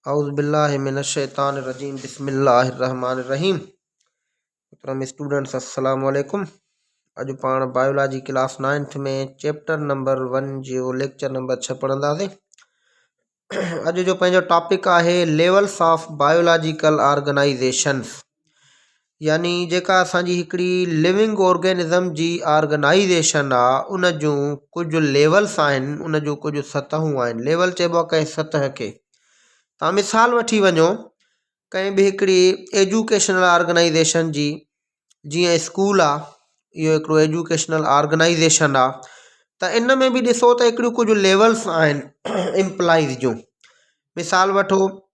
اعوذ بالله من الشيطان الرجيم بسم الله الرحمن الرحيم محترم اسٽوڊنٽس السلام عليڪم اڄ پاڻ biology class ninth ۾ chapter number one جو ليڪچر نمبر ڇهه پڙهنداسين اڄ جو پنهنجو ٽاپڪ آهي ليولس آف بائيولاجيڪل آرگنائيزيشنس يعني جيڪا اسان جي هڪڙي لوئنگ آرگينزم جي آرگنائيزيشن آ ان جون ڪجهه ليولس آهن ان جون ڪجهه سطحون آهن ليول چئبو آ ڪنهن سطح کي تان مثال وٺي وڃو ڪنهن به هڪڙي ايجوڪيشنل آرگنائيزيشن جي جيئن اسڪول آ اهو هڪڙو ايجوڪيشنل آرگنائيزيشن آ ته ان ۾ به ڏسو ته هڪڙيون ڪجهه ليولس آهن امپلائيز جون مثال وٺو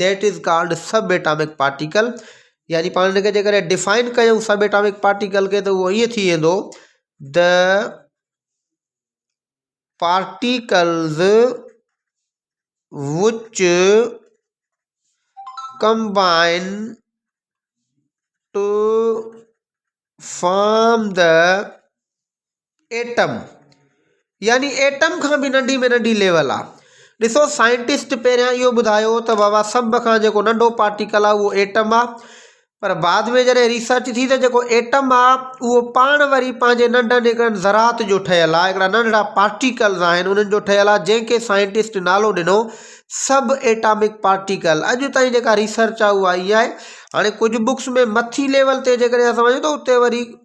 that is called sub atomic particle يعني پاڻ هن کي جيڪڏهن ڊفائن ڪيون سب ايٽامڪ پارٽيڪل کي ته اهو ائين ٿي ويندو the particles which combine to form the atom يعني ايٽم کان به ننڍي ۾ ننڍي ليول آ ڏسو سائنٽسٽ پهريان اهو ٻڌايو هو ته بابا سڀ کان جيڪو ننڍو پارٽيڪل آ اهو ايٽم آ پر بعد ۾ جڏهن ريسرچ ٿي ته جيڪو ايٽم آ اهو پاڻ وري پنهنجي ننڍن هڪڙن ذرات جو ٺهيل آ هڪڙا ننڍڙا پارٽيڪلز آهن انهن جو ٺهيل آ جنهن کي سائنٽسٽ نالو ڏنو سب ايٽامڪ پارٽيڪل اڄ تائين جيڪا ريسرچ آ اها اها آ هاڻي ڪجهه بڪس ۾ مٿي ليول تي جيڪڏهن اسان وڃون ته اتي وري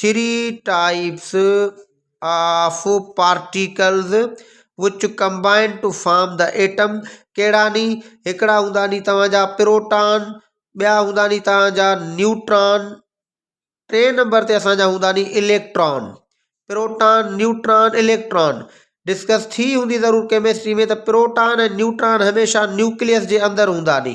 three types of particles which combine to form the atom ڪهڙا ني هڪڙا هوندا ني توهان جا پروٽان ٻيا هوندا ني توهان جا نيوٽران ٽي نمبر تي اسانجا هوندا ني electron proton neutron electron discuss ٿي هوندي ضرور ڪيمسٽري ۾ ته پروٽان ۽ نيوٽران هميشه نيوڪليس جي اندر هوندا ني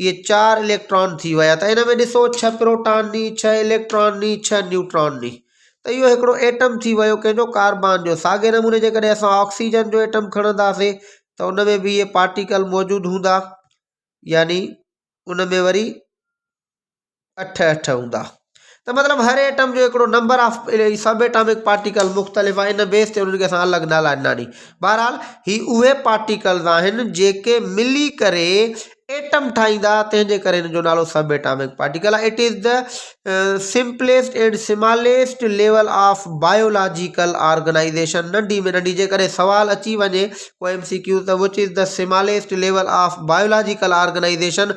اهي چار اليڪٽران ٿي ويا ته ان ۾ ڏسو ڇهه پروٽان ني ڇهه اليڪٽران ني ڇهه نيوٽران ني ته اهو هڪڙو ايٽم ٿي ويو ڪنهن جو ڪاربان جو ساڳي نموني جيڪڏهن اسان آڪسيجن جو ايٽم کڻنداسي ته ان ۾ به اهي پارٽيڪل موجود هوندا يعني ان ۾ وري اٺ اٺ هوندا ته مطلب هر ايٽم جو هڪڙو number of sub atomic particle مختلف آهي ان بيس تي انهن کي اسان الڳ نالا ڏنا ني بهرحال هي اهي پارٽيڪلز آهن جيڪي ملي ڪري ايٽم ٺاهيندا تنهن جي ڪري هن جو نالو سب ايٽامڪ پارٽيڪل آهي it is the simplest and smallest level of biological organization ننڍي ۾ ننڍي جي ڪري سوال اچي وڃي ڪو ايم سي ڪيو ته which is the smallest level of biological organization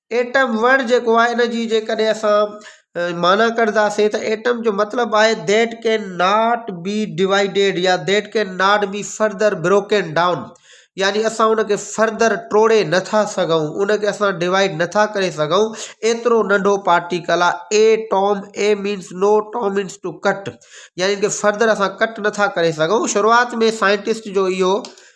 atom word جيڪو آهي ان جي جيڪڏهن اسان معنيٰ ڪڍنداسين ته ايٽم جو مطلب آهي that can not be divided يا that can not be further broken down يعني اسان ان کي فرڌر ٽوڙي نٿا سگهون ان کي اسان ڊوائيڊ نٿا ڪري سگهون ايترو ننڍو پارٽيڪل آهي a tom a means no tom means to cut يعني ان کي فرڌر اسان ڪٽ نٿا ڪري سگهون شروعات ۾ سائنٽسٽ جو اهو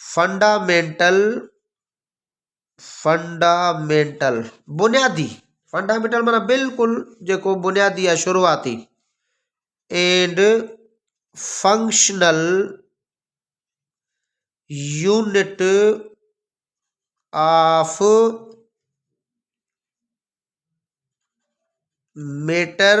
فنڊامينٽل Fundamental بنيادي فنڊامينٽل مانا بلڪل جيڪو بنيادي يا شروعاتي and functional unit of matter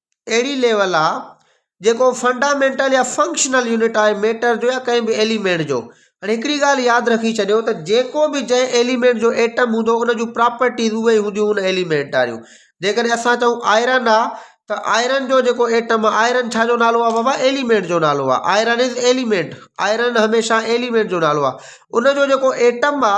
اهڙي ليول آ جيڪو فنڊامينٽل يا فنڪشنل يونٽ آهي ميٽر جو يا ڪنهن به ايليمينٽ جو هاڻي هڪڙي ڳالهه ياد رکي ڇڏيو ته جيڪو به جنهن ايليمينٽ جو ايٽم هوندو ان جون پراپرٽيز اهي ئي هونديون ان ايليمينٽ واريون جيڪڏهن اسان چئون آئرن آ ته آئرن جو جيڪو ايٽم آ آئرن ڇا جو نالو آ بابا ايليمينٽ جو نالو آ آئرن از ايليمينٽ آئرن هميشه ايليمينٽ جو نالو آ ان جو جيڪو ايٽم آ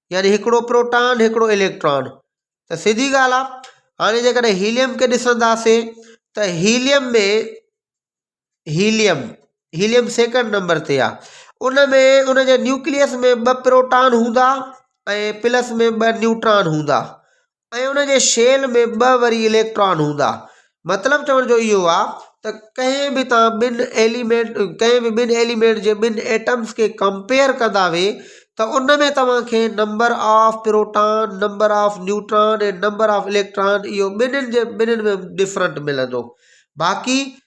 يعني هڪڙو پروٽان هڪڙو اليڪٽران ته سڌي ڳالهه آ هاڻي جيڪڏهن هيليم کي ڏسنداسي ته helium ۾ helium helium second number تي آ ان ۾ ان جي نيوڪليس ۾ ٻه پروٽان هوندا ۽ پلس ۾ ٻه نيوٽران هوندا ۽ ان جي شيل ۾ ٻه وري اليڪٽران هوندا. مطلب چوڻ جو اهو آ ته ڪنهن به تان ٻن ايليمينٽ ڪنهن به ٻن ايليمينٽ جي ٻن ايٽمز کي ڪمپيئر ڪندا وي ته ان ۾ توهان کي number of proton, number of neutron ۽ number of electron اهو ٻنهين جي ٻنهين ۾ ڊفرنٽ ملندو. باقي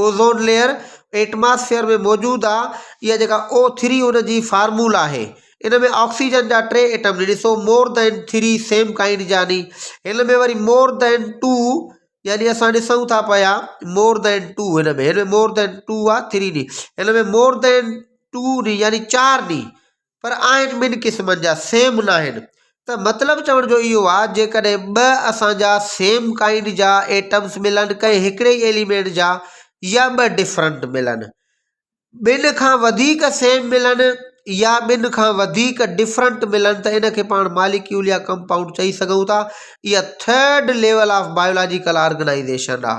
اوزون ليئر ائٽماسفيئر ۾ موجود آ اها جيڪا او ٿري ان جي فارمول آهي ان ۾ آڪسيجن جا ٽي ائٽم ڏسو more than three same kind جاني هن ۾ وري مور دين ٽو يعني اسان ڏسون ٿا پيا مور دين ٽو هن ۾ هن ۾ مور دين ٽو آ ٿري ڏي هن ۾ مور دين ٽو ڏي يعني چار ڏي پر آهن ٻن قسمن جا، سيم ناهن. ته مطلب چوڻ جو اهو آ جيڪڏهن ٻه اسان جا سيم ڪائنڊ جا ايٽمز ملن ڪنهن هڪڙي ئي ايليمينٽ جا يا ٻه ڊفرنٽ ملن ٻن کان وڌيڪ سيم ملن يا ٻن کان وڌيڪ ڊفرنٽ ملن ته ان کي پاڻ ماليڪيول يا ڪمپائونڊ چئي سگهون ٿا اها third level of biological organization آ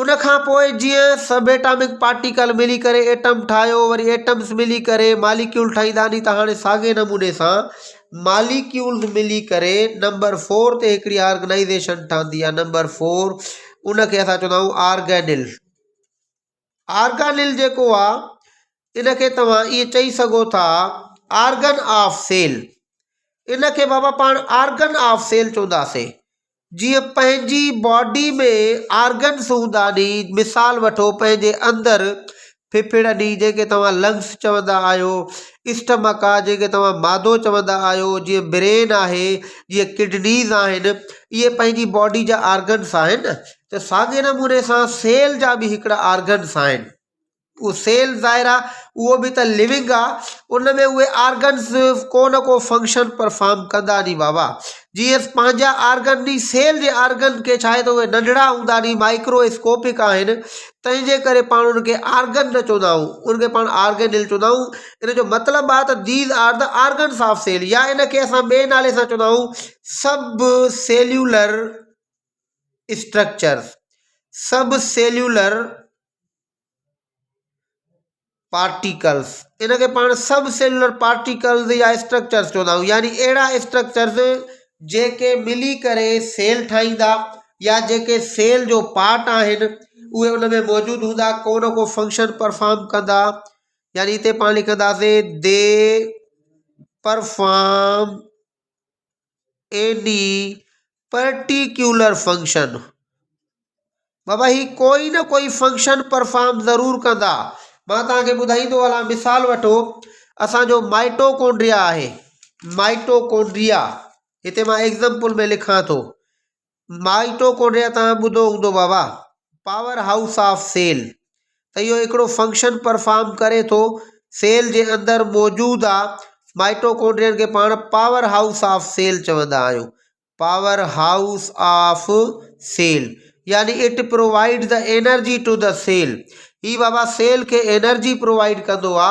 ان کان پوء جيئن سب ايٽامڪ پارٽيڪل ملي ڪري ايٽم ٺاهيو وري ايٽمز ملي ڪري ماليڪيول ٺاهيندا ني ته هاڻي ساڳئي نموني سان ماليڪيولز ملي ڪري نمبر فور تي هڪڙي آرگنائيزيشن ٺهندي آهي نمبر فور ان کي اسان چوندا آهيون آرگينل آرگانل جيڪو آهي ان کي توهان ائين چئي سگهو ٿا آرگن آف سيل ان کي بابا پاڻ آرگن آف سيل چونداسي جيئن پنهنجي باڊي ۾ آرگنس هوندا ني مثال وٺو پنهنجي اندر ڦڦڙ ني جنهن کي توهان لنگس چوندا آهيو اسٽمڪ آ جنهن کي توهان معدو چوندا آهيو جيئن برين آهي جيئن ڪڊنيز آهن اهي پنهنجي باڊي جا آرگنس آهن ته ساڳي نموني سان سيل جا به هڪڙا آرگنس آهن اهو سيل ظاهر آ اهو به ته لوينگ آ ان ۾ اهي آرگنز ڪو نه ڪو فنڪشن پرفام ڪندا ني بابا جي ايس پنهنجا آرگن ني سيل جي آرگن کي ڇا آهي ته اهي ننڍڙا هوندا ني مائڪرو اسڪوپڪ آهن تنهنجي ڪري پاڻ ان کي آرگن نه چوندا آهيون ان کي پاڻ آرگنل چوندا آهيون ان جو مطلب آ ته these are the organs of cell يا ان کي اسان ٻئي نالي سان چوندا آهيون subcellular structure subcellular particles, ان کي پاڻ سب سيلولر پارٽيڪلز يا اسٽرڪچرز چوندا آهيون يعني اهڙا اسٽرڪچرز جيڪي ملي ڪري سيل ٺاهيندا يا جيڪي سيل جو پارٽ آهن اهي ان ۾ موجود هوندا ڪو نه ڪو فنڪشن پرفام ڪندا يعني هتي پاڻ لکنداسين دي پرفام ايڏي پرٽيڪيولر فنڪشن. بابا هي ڪوئي نه ڪوئي فنڪشن پرفارم ضرور ڪندا. مان توهان کي ٻڌائيندو هلان مثال وٺو اسان جو مائٽوڪونڊريا آهي مائٽوڪونڊريا هتي مان ايگزمپل ۾ لکان ٿو مائٽوڪونڊريا تان ٻڌو هوندو بابا پاور هائوس آف سيل ته اهو هڪڙو فنڪشن پرفارم ڪري ٿو سيل جي اندر موجود آ مائٽوڪونڊرين کي پاڻ پاور هائوس آف سيل چوندا آهيون پاور هائوس آف سيل يعني it provide the energy to the cell هي بابا سيل کي انرجي پرووائيڊ ڪندو آ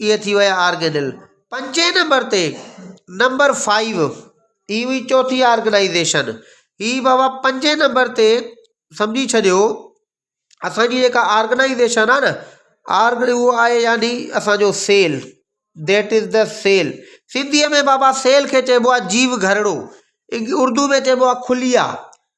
اهي ٿي ويا آرگينل. پنجين نمبر تي نمبر فائيو هي هئي چوٿي آرگنائيزيشن. هي بابا پنجين نمبر تي سمجهي ڇڏيو اسانجي جيڪا آرگنائيزيشن آهي نه آرگن اهو آهي يعني اسانجو cell that is the cell سنڌيء ۾ بابا سيل کي چئبو آهي جيو گهرڙو اردو ۾ چئبو آهي خليا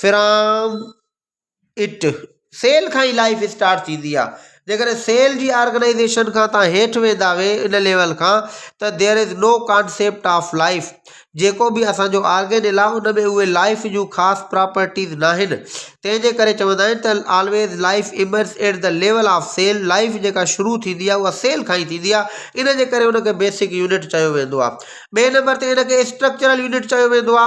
فرام اٽ سيل کان ئي لائف اسٽارٽ ٿيندي آ جيڪڏهن سيل جي آرگنائيزيشن کان تان هيٺ ويندا وي ان ليول کان ته there is no concept of life جيڪو بي اسانجو آرگينل آ ان ۾ اهي لائف جون خاص پراپرٽيز نا آهن تنهنجي ڪري چوندا آهن ته always life emerges at the level of cell life جيڪا شروع ٿيندي آ اها سيل کان ئي ٿيندي آ ان جي ڪري ان کي بيسڪ يونٽ چيو ويندو آ ٻي نمبر تي ان کي اسٽرڪچرل يونٽ چيو ويندو آ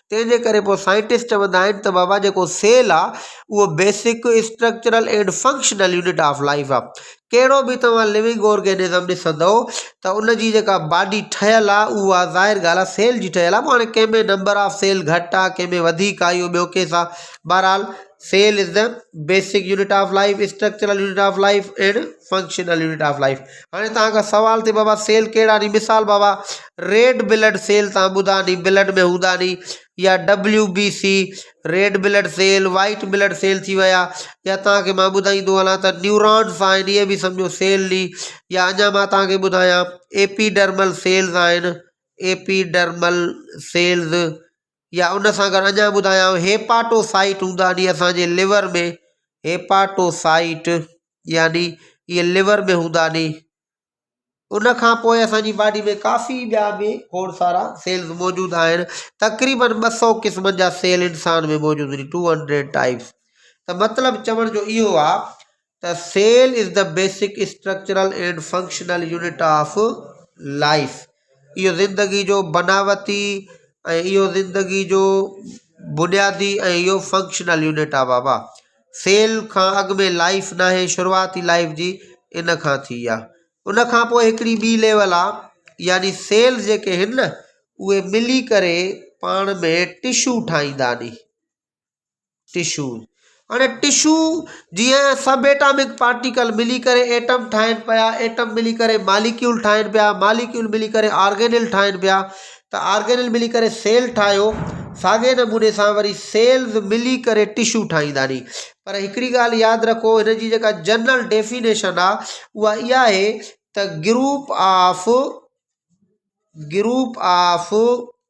تنهنجي ڪري پوء سائنٽسٽ چوندا آهن ته بابا جيڪو سيل آ اهو basic structural and functional unit of life آ ڪهڙو به توهان لوئنگ آرگينزم ڏسندو ته ان جي جيڪا باڊي ٺهيل آ اها ظاهر ڳالهه آ سيل جي ٺهيل آ پوء هاڻي ڪنهن ۾ نمبر آف سيل گهٽ آ ڪنهن ۾ وڌيڪ آ اهو ٻيو ڪيس آ بهرحال cell is the basic unit of life structural unit of life and functional unit of life هاڻي تهان کان سوال ٿي بابا سيل ڪهڙا ني مثال بابا ريڊ بلڊ سيل تهان ٻڌا ني بلڊ ۾ هوندا ني يا W B C red blood cell white blood cell ٿي ويا يا تهان کي مان ٻڌائيندو هلان ته نيورانس آهن اهي به سمجھو سيل ني يا اڃا مان تهان کي ٻڌايان ايپيڊرمل سيلز آهن ايپيڊرمل سيلز يا ان سان گڏ اڃان ٻڌايائون هيپاٽو سائيٽ هوندا آهن اسان جي لور ۾ هيپاٽو سائيٽ يعني اهي لور ۾ هوندا آهن ان کان پوء اسانجي باڊي ۾ ڪافي ٻيا به کوڙ سارا سيلز موجود آهن تقريبن ٻه سو قسمن جا سيل انسان ۾ موجود آهن ٽو هنڊريڊ ٽائيپس ته مطلب چوڻ جو اهو آ ته cell is the basic structural and functional unit of life اهو زندگي جو بناوتي ۽ اهو زندگي جو بنيادي ۽ اهو فنڪشنل يونٽ آ بابا سيل کان اڳ ۾ لائيف نه آهي شروعاتي لائيف جي ان کان ٿي آ ان کان پوء هڪڙي ٻي ليول آ يعني سيلز جيڪي هن اهي ملي ڪري پاڻ ۾ ٽشو ٺاهيندا ني ٽشو، هاڻي ٽشو جيئن سب ايٽامڪ پارٽيڪل ملي ڪري ايٽم ٺاهن پيا، ايٽم ملي ڪري ماليڪيول ٺاهن پيا، ماليڪيول ملي ڪري آرگينل ٺاهن پيا ته آرگينل ملي ڪري سيل ٺاهيو ساڳئي نموني سان وري سيلز ملي ڪري ٽشو ٺاهيندا ني پر هڪڙي ڳالهه ياد رکو هن جي جيڪا جنرل ڊيفينيشن آ اها اها آهي ته گروپ آف گروپ آف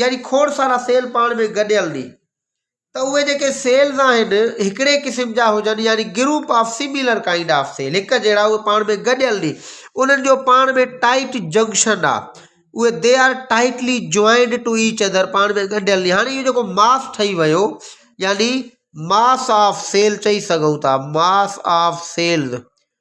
يعني کوڙ سارا سيل پاڻ ۾ گڏيل ني ته اهي جيڪي سيلز آهن هڪڙي قسم جا هجن يعني group of similar kind of cell هڪ جهڙا اهي پاڻ ۾ گڏيل ني انهن جو پاڻ ۾ ٽائٽ جنڪشن آهي اهي they are tightly joined to each other پاڻ ۾ ڳنڍيل هاڻي اهو جيڪو ماس ٺهي ويو يعني ماس آف سيل چئي سگهون ٿا ماس آف سيلز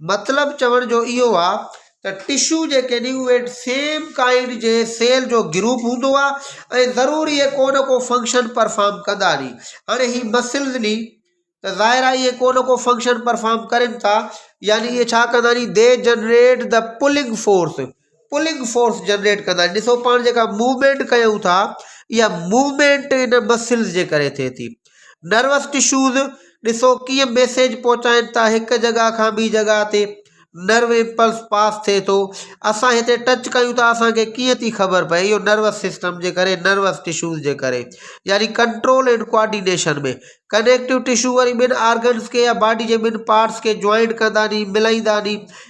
مطلب چوڻ جو اهو آ ته ٽشو جيڪي ني اهي سيم ڪائنڊ جي سيل جو گروپ هوندو آ ۽ ضروري اهي ڪو نه ڪو فنڪشن پرفارم ڪندا ني. هاڻي هي مسلز ني ته ظاهر آ اهي ڪو نه ڪو فنڪشن پرفارم ڪرين ٿا يعني اهي ڇا ڪندا ني they generate the pulling force. Pulling force generate ڪندا آهن ڏسو پاڻ جيڪا موومينٽ ڪيون ٿا اها موومينٽ ان مسلز جي ڪري ٿئي ٿي نروس ٽشوز ڏسو ڪيئن ميسيج پهچائين ٿا هڪ جڳهه کان ٻي جڳهه تي نرو امپلس پاس ٿئي ٿو اسان هتي ٽچ ڪيون ٿا اسانکي ڪيئن ٿي خبر پئي اهو نروس سسٽم جي ڪري نروس ٽشوز جي ڪري يعني control and coordination ۾ connective tissue وري ٻن آرگنس کي يا باڊي جي ٻن پارٽس کي جوائنٽ ڪندا ني ملائيندا ني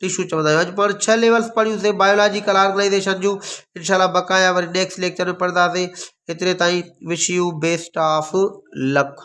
ٽشو چوندا آهيون اڄ پاڻ ڇهه ليولس پڙهيوسي بائيولاجيڪل آرگنائيزيشن جون انشاء الله بقايا وري نيڪسٽ ليڪچر ۾ پڙهنداسي هيتري تائين wish you best of luck